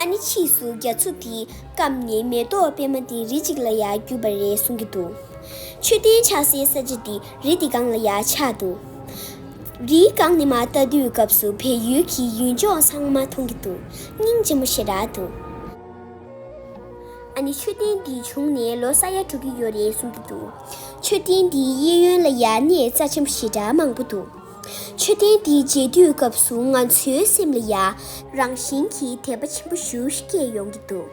ཨ་ནི་ཕྱིས་སུ་རྒྱ་མཚོ་འདི་སྐམ་ནས་མེ་ཏོག་པད་མ་འདི་རི་གཅིག་ལ་ཡང་གྱུར་པ་རེད་གསུང་གི་འདུག་མཆོད་རྟེན་ཆགས་སའི་ས་ཆ་འདི་རི་འདི་སྒང་ལ་ཡང་ཆགས་འདུག་རིའི་སྒང་ནས་མ་བལྟ་དུས་སྐབས་སུ་བལ་ཡུལ་གྱི་ཡུལ་ལྗོངས་ཚང་མ་མཐོང་གི་འདུག་སྙིང་རྗེ་མོ་ཞེ་དྲག་འདུག། ཨ་ནི་མཆོད་རྟེན་འདི་བྱུང་ནས་ལོ་ས་ཡ་དྲུག་གི་ཡོད་རེད་གསུང་གི་འདུག་མཆོད་རྟེན་འདིའི་གཡས་གཡོན་ལ་ཡང་གནས་རྩ་ཆེན་པོ་ཞེ་དྲག་མང་པོ་འདུག། མཆོད་རྟེན་འདི་མཇལ་དུས་སྐབས་སུ་ང་ཚོའི་སེམས་ལ་ཡ་རང་བཞིན་གྱི་དད་པ་ཆེན་པོ་ཞུ་སྐྱེས་ཡོང་གི་འདུག་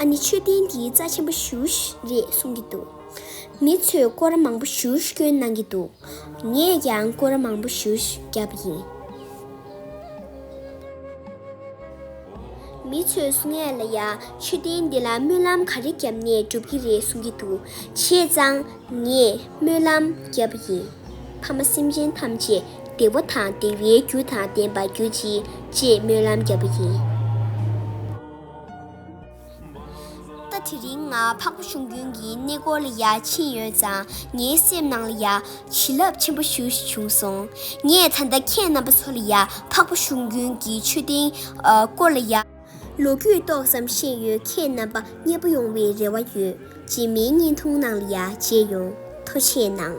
ཨ་ནི་མཆོད་རྟེན་འདི་རྩ་ཆེན་པོ་ཞུ་རེད་གསུང་གི་འདུག་མི་ཚོས་སྐོར་ར་མང་པོ་ཞུ་སྐྱོན་གནང་གི་འདུག་ངས་ཀྱང་སྐོར་ར་མང་པོ་ཞུ་བརྒྱབ་པ་ཡིན། མི་ཚོས་ངས་ལ་ཡ་མཆོད་རྟེན་འདི་ལ་སྨོན་ལམ་ག་རེ་བརྒྱབ་ནས་སྒྲུབ་ཀྱི་རེད་གསུང་གི་འདུག་བྱས་ཙང། ངས་སྨོན་ལམ་བརྒྱབ་པ་ཡིན། ཕ་མ་སེམས་ཅན་ཐམས་ཅད་བདེ་བོ་དང་བདེ་བའི་རྒྱུ་དང་ལྡན་པར་གྱུར་ཅིག་ཅེས་སྨོན་ལམ་བརྒྱབ་པ་ཡིན། ད་དེ་རིང་ང་འཕགས་པ་ཞུང་རྒྱུན་གྱི་གནས་སྐོར་ལ་ཡར་ཕྱིན་ཡོད་ཙང་ངའི་སེམས་ནང་ལ་ཡང་བྱིན་རླབས་ཆེན་པོ་ཞུ་བཞིན་བྱུང་སོང། ངས་ད་ལྟ་ཁྱེད་རྣམ་པ་ཚོ་ལ་ཡང་འཕགས་པ་ཞུང་རྒྱུན་གྱི་མཆོད་རྟེན་སྐོར་ལ་ཡར། ལོ་རྒྱུས་ཏོག་ཙམ་ཤེས་ཡོད་ཁྱེད་རྣམ་པ་མཉེས་པོ་ཡོང་བའི་རེ་བ་ཡོད་སྤྱི་མིང་བརྙན་ཐུང་ནང་ལ་ཡ་བྱེད་ཡོང་ཐོ་ཆེད་གནང།